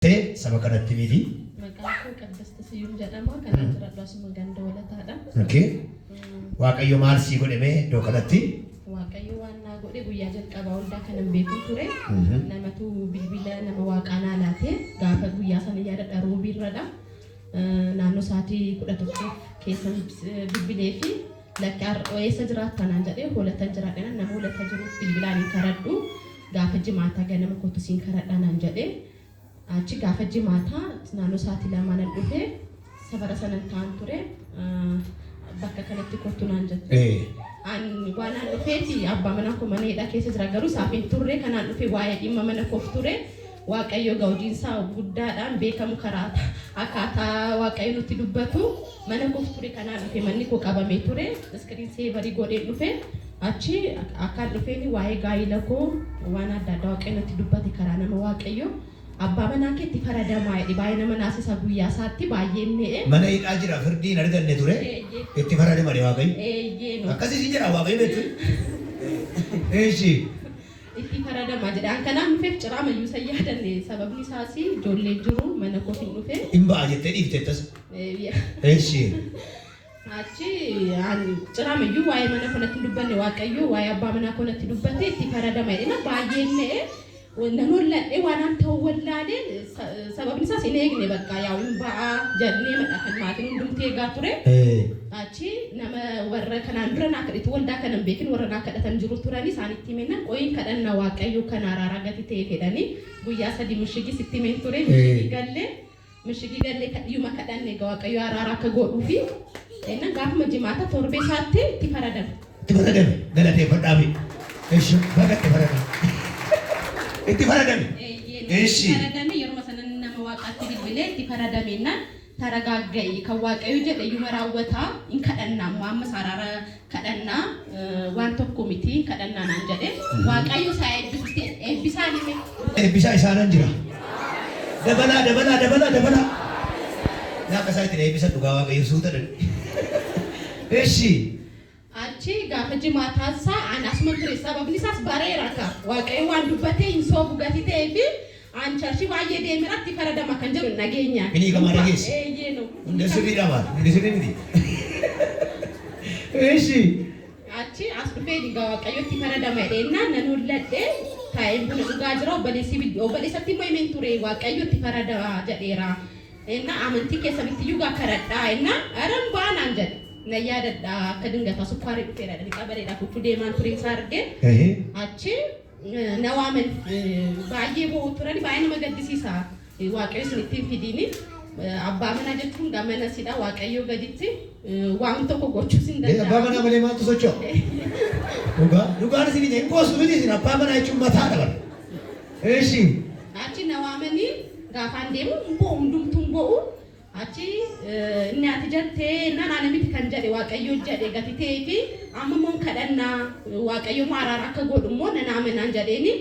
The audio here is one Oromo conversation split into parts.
Tee saba kanatti himii fi. Maqaan koo Qaddasta Siyyum jedhama. Kan an jiradhu asuma ganda walataadha. Okay. Mm, Waaqayyo maal sii godhe mee iddoo kanatti? Waaqayyo waan naa godhe guyyaa jalqabaa hundaa kanan beeku ture. Mhm. Namatu bilbila nama waaqaa naa laate gaafa guyyaa sana yaadadha roobiirradha. Eh, Naannoo sa'aatii kudha tokko keessa bilbilee fi Lakki ar'oo eessa jiraatta naan jedhee hoolattan jira dhenan nama hoolata jiru bilbilaan hin karadhu gaafa jimaataa ganama kottu siin karadhaa naan jedhe achi gaafa jimaataa naannoo saatii lamaa nan dhufe safara sanan taan ture bakka kanatti kottu naan jette an waanaan dhufeeti abbaa manaa koo mana hidhaa keessa jira garuu saafin turre kanaan dhufe waa'ee dhimma mana koof ture Waaqayyo gaudiinsaa guddaadhaan beekamu karaa akkaataa Waaqayyo nutti dubbatu mana koof ture kanaan dhufe manni koo qabamee ture screen saver godheen dhufe achi akkaan dhufeen waa'ee gaa'ila koo waan adda addaa Waaqayyo natti dubbate karaa nama Waaqayyo abbaa manaa keetti faradamaa jedhe baay'ee nama naasisa guyyaa isaatti baay'een me'e. Mana hidhaa jira firdii hin arganne ture itti faradamani Waaqayyo. Eeyyee no. Akkasii siin jedhaa Waaqayyo beektuu. Eeshi. itti faradama jedhaan kanaan dhufeef ciraa mayyuu san yaadanne sababni isaas ijoollee jiru mana koof hin dhufe. Hin ba'a jettee dhiifte tasa. Eshi. Achi an ciraa mayyuu waa'ee mana koo natti hin dubbanne waaqayyoo waa'ee abbaa manaa koo natti dubbate itti faradama jedhina baay'een na'e nan holladhe waan an ta'u wallaalee Sababni isaas hin eegne bakka yaa'u hin ba'aa jadneemadha kan maatiin hundumti eegaa ture. Achi nama warra kanaan dura naa kadhitu waldaa kana hin beekin warra naa kadhatan jiru turani isaanitti himennan qoyin kadhanna waaqayyoo kan araaraa gati ta'e fedhani guyyaa sadi mishigi sitti himen ture mishigi galle mishigi galle kadhiyuma kadhanne waaqayyoo araaraa akka godhuufi ennan gaafuma jimaata torbee isaatti itti faradame. Itti faradami galateeffadhaafi. Eshi baga itti faradame. Itti faradame. Eshi. Faradame yeruma sanan nama waaqaatti bilbilee itti faradame na taragaagga'i kan waaqayyo jedhe yuma raawwata hin kadhanna amma amma saaraara kadhanna waan tokko miti hin kadhannaa naan jedhe waaqayyo isaa eebbisutti eebbisaa nime. Eebbisaa isaanan jira. Dabalaa dabalaa dabalaa dabalaa. Naaqa isaa ittiin eebbisan dhugaa waaqayyo suuta dhan. Eshi. Achi gaafa jimaataa saa an asuman ture sababni isaas bareera ka waaqayyo waan dubbatee hin soobu gati ta'ee fi an charshi baay'ee deemera itti faradama kan jedhu hin dhageenya. Hin hiikamaa dhageesse? Eeyyee no. Hundee sirrii dhabaadha. Hundee sirrii miti. Eeshi. Achi as dhufee dhigaa waaqayyo itti faradama jedheennaan nan holladhe taa'een buna dhugaa jira obboleessi obboleessatti immoo himeen ture waaqayyo itti faradama jedheera. Ennaa amantii kee sabitti iyyuu gaa karadhaa ennaa Ara hin baa naan jedhe. Nan yaadadha akka dingataa sukkaarri dhufeera jedhanii xabaleedhaaf utuu deemaan turiin isaa arge. Ehe. Achi na waaman baay'ee boo'u turani baay'ee nama gaddisiisa. Waaqayyo isinitti hin fidiini. Abbaa manaa jechuun gaa mana sidha Waaqayyoo gaditti waan tokko gochuus hin Ee, abbaa manaa danda'amu. malee maaltu socho'a? Dhugaa. Dhugaan isin hin qoostu miti isin abbaa manaa jechuun mataadha bara. Eshi. Achi na waamanii gaafaan deemu hin bo'u hundumtuu hin bo'u. Achi inni ati jatte naan ana miti kan jedhe waaqayyo jedhe gati ta'ee fi amma immoo kadhannaa waaqayyo immoo araara akka godhu immoo nan amanaan jedheeni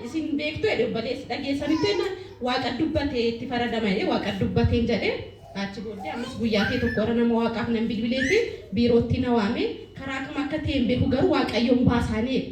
isin beektu jedhe obboleessi dhageessanitti inni waaqa dubbate itti faradama jedhe waaqa dubbateen jedhe achi booddee ammas guyyaa ta'e tokko irra nama waaqaaf nan bilbilee fi biirootti na waame karaa kam akka ta'e hin beeku garuu waaqayyoon baasaanii jedhe.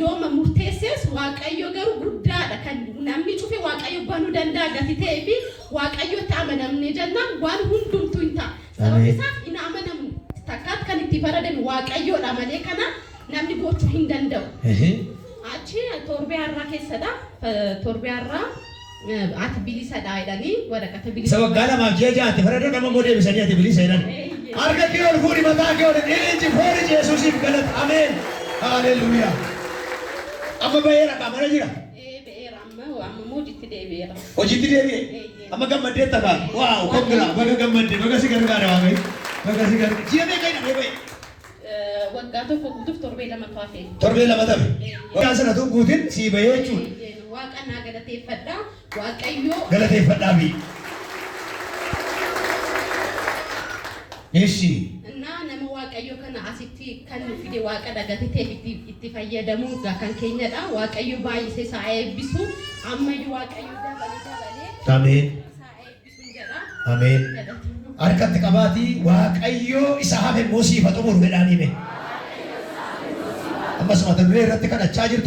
yooma murteessees Waaqayyo garuu guddaadha kan namni cufe Waaqayyo banu danda'a gati ta'ee fi Waaqayyotti amanamne jennaan waan hundumtuu hin ta'a. Sababni isaas hin amanamu. Takkaatti kan itti faradame Waaqayyoodha malee kana namni gochuu hin danda'u. Achi torbee har'aa keessadha. Torbee har'aa Ati bilisa dha jedhanii waraqata Isa bilisummaa. waggaa lamaaf ji'a ja'a itti faradan amma immoo deebisanii ati bilisa jedhan. Eeyyee. Harka kee ol fuudhi mataa kee ol dhiichi foolichi Yesuusiif galata. Ameen. Haaleluyyaa. Amma ba'eera kaa mana jira. Ee, ba'eera amma amma immoo hojiitti deebi'eera. Hojiitti deebi'e. Eeyyee. Amma gammaddee tafa. Waaw kongiraa baga gammadde baga si gargaara waaqayyo. Baga si gargaara. Ji'a meeqa jedhamee ba'e? Waggaa tokko guutuuf torbee lamatu hafe. Torbee lama tafe. Waggaa sana utuu guutin sii bahee jechuudha. Waaqa naa galateeffadha. Waaqayyo. Galateeffadhaa fi. Eshi. Naa nama Waaqayyo kana asitti kan nu fide Waaqa dhagatee itti itti fayyadamuu ga- kan keenyadha. Waaqayyo baay'isee saa eebbisu. Ammayyu Waaqayyo dabalee dabalee. Ameen. Sin jedha. Ameen. Galatooma. Harka itti qabaatii Waaqayyoo isa hafe immoo siif haa xumuru jedhaanii mee. Ammas mata duree irratti kadhachaa jirtu